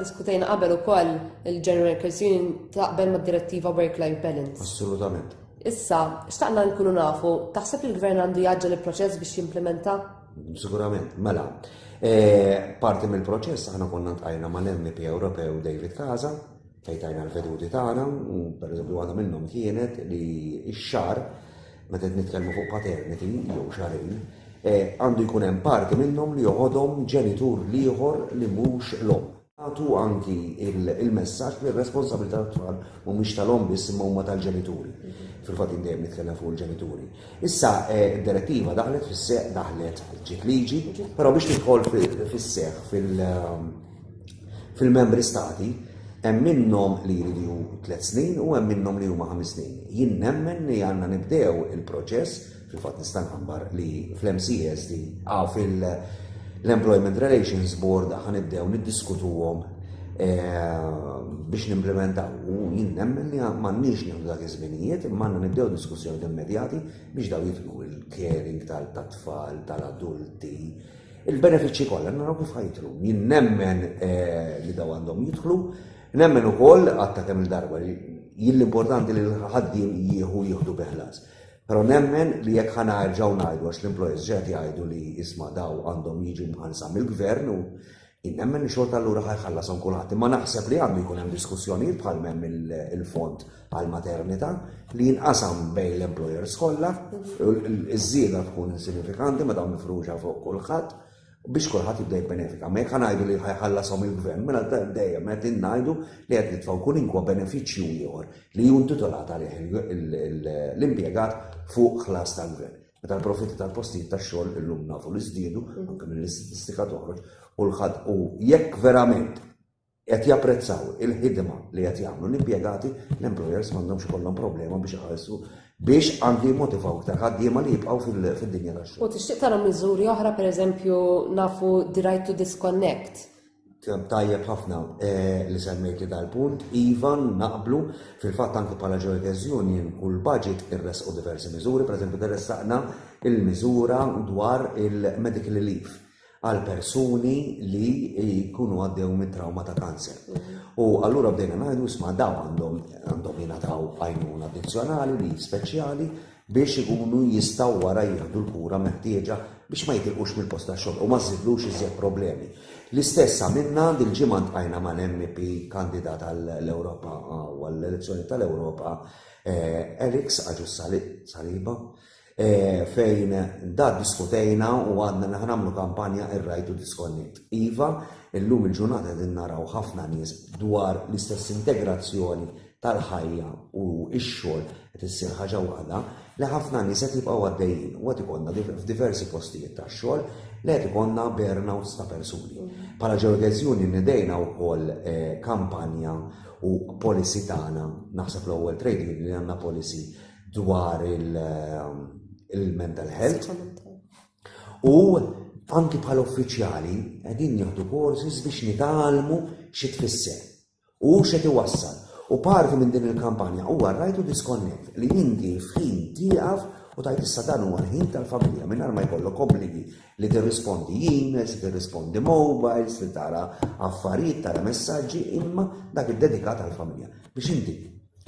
diskutejna qabel ukoll il-General Workers Union taqbel mad-direttiva Work-Life Balance. Assolutament. Issa, xtaqna nkunu nafu, taħseb li l-gvern għandu jaġġel il-proċess biex jimplementa? Sigurament, mela. E, parti mill-proċess aħna konna tqajna mal-MP Ewropew David Kaza, fejn tajna l-veduti tagħna u pereżempju waħda minnhom kienet li x-xar meta qed nitkellmu fuq paternity jew xarin eh, għandu jkun hemm parti minnhom li joħodhom ġenitur l-ieħor li mhux l-om. Għatu anki il-messaġġ li r-responsabilità tat-tfal mhumiex tal-om biss imma huma tal-ġenituri. Fil-fatt dejjem nitkellem fuq il-ġenituri. Issa eh, d-direttiva daħlet fis-seq daħlet ġiet liġi, però biex tidħol fis-seq fil- Fil-Membri Stati, hemm minnhom li jridu tliet snin u hemm minnhom li huma ħames snin. Jien nemmen li għandna nibdew il-proċess, fil-fatt nista' nħabbar li fl-MCSD, ah, fil-Employment Relations Board ħa nibdew niddiskutuhom eh, biex nimplementaw. U jien nemmen li m'għandniex nieħdu dak iż-żminijiet, imma għandna nibdew diskussjoni immedjati biex daw jidħlu il-caring tal-tfal, tal-adulti, Il-benefiċċji kollha naraw kif ħajtru. Jien nemmen li daw għandhom jidħlu, nemmen ukoll għatta kemm il-darba li jien l-importanti li l-ħaddiem jieħu jieħdu biħlas. Però nemmen li jekk ħana erġgħu ngħidu għax l-employers ġed jgħidu li isma' daw għandhom jiġu mħansa mill-gvern u jien nemmen li xorta allura ħajħallasom kulħadd. Imma naħseb li għandu jkun hemm diskussjonijiet bħal hemm il-fond bħal maternità li jinqasam bejn l-employers kollha, iż-żieda tkun insignifikanti meta mifruxa fuq kulħadd biex kulħadd jibda jibbenefika. Ma jekk ngħidu li ħajħallasom il-gvern, mela dejjem qed ngħidu li qed nitfgħu kull inkwa benefiċċju ieħor li hu intitolat għalih l-impjegat fuq ħlas tal-gvern. Meta l-profitti tal-postijiet tax-xogħol illum nafu li żdiedu, anke mill-istatistika toħroġ, u l-ħadd u jekk verament qed japprezzaw il-ħidma li qed jagħmlu l-impjegati, l-employers m'għandhomx ikollhom problema biex iħallsu biex anki jimmotivaw iktar ħaddiema li jibqgħu fid-dinja tax-xogħol. U tixtieq tara miżuri oħra pereżempju nafu the right to disconnect. Tajjeb ħafna eh, li semmejti dal-punt, Ivan naqblu fil-fatt anki bħala Joytez Union u l-budget irresqu diversi miżuri, pereżempju interessaqna il-miżura dwar il-medical relief għal persuni li jkunu għaddew mit trauma ta' kanser. U allura bdejna ngħidu isma' daw għandhom għandhom jingħataw għajnuna addizzjonali li speċjali biex ikunu jistgħu wara jieħdu l-kura meħtieġa biex ma jitilqux mill-post ta' xogħol u ma żidlux iżjed problemi. L-istess għamilna dil-ġimgħa ntqajna mal-MP kandidat għall-Ewropa għall-elezzjoni tal-Ewropa eh, Eriks Aġus Saliba fejn da diskutejna u għadna li ħanamlu kampanja ir-right to disconnect. Iva, illum il-ġurnata qegħdin naraw ħafna nies dwar l-istess integrazzjoni tal-ħajja u x-xogħol qed issir ħaġa waħda li ħafna nies qed jibqgħu għaddejjin u qed ikollna f'diversi postijiet tax-xogħol li qed ikollna burnouts ta' persuni. Bħala ġeodeżjuni nidejna wkoll eh, kampanja u policy tagħna, naħseb l-ewwel trade union li għandna policy dwar il-mental health. U anki bħal uffiċjali qegħdin nieħdu courses biex nitalmu xi tfisser u xi tiwassal. U parti minn din il-kampanja huwa rajtu disconnect li inti f'ħin tieqaf u tajt issa dan huwa ħin tal-familja mingħajr ma jkollok obbligi li tirrispondi emails, li tirrispondi mobiles, li tara affarijiet, tara messaġġi, imma dak id-dedikat għall-familja biex inti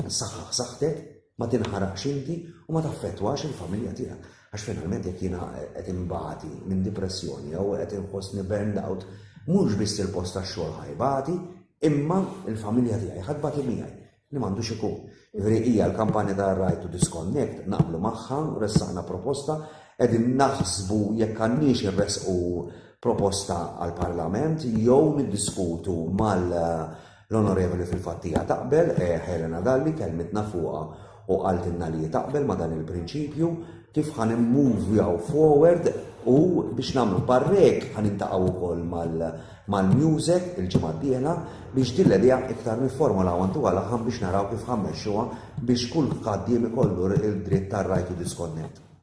Saħħa saħħtek ma tinħaraqx inti u ma taffettwax il-familja tiegħek. Għax finalment jekk jiena qed inbati minn dipressjoni jew qed inħossni burned out, mhux biss il-post tax-xogħol ħajbati, imma il-familja tiegħi ħadd bati miegħi li m'għandux ikun. Ġifieri hija l-kampanja ta' Right to Disconnect naqblu magħha, ressaqna proposta, qegħdin naħsbu jekk għandniex irresqu proposta għall-Parlament jew niddiskutu mal L-Onorevoli fil-fatt hija taqbel, Helena Dalli kellmitna fuqha u qaltilna li hi taqbel ma' dan il-prinċipju, kif ħa nimmuvjaw forward u biex nagħmlu parrek ħa niltaqgħu wkoll mal-MUSE il-ġimgħa d-dieħla biex din l-idea iktar nifformulawha ntuha l-aħħam biex naraw kif ħa mmexxuha biex kull ħaddiem ikollu d-dritt tar-right to disconnect.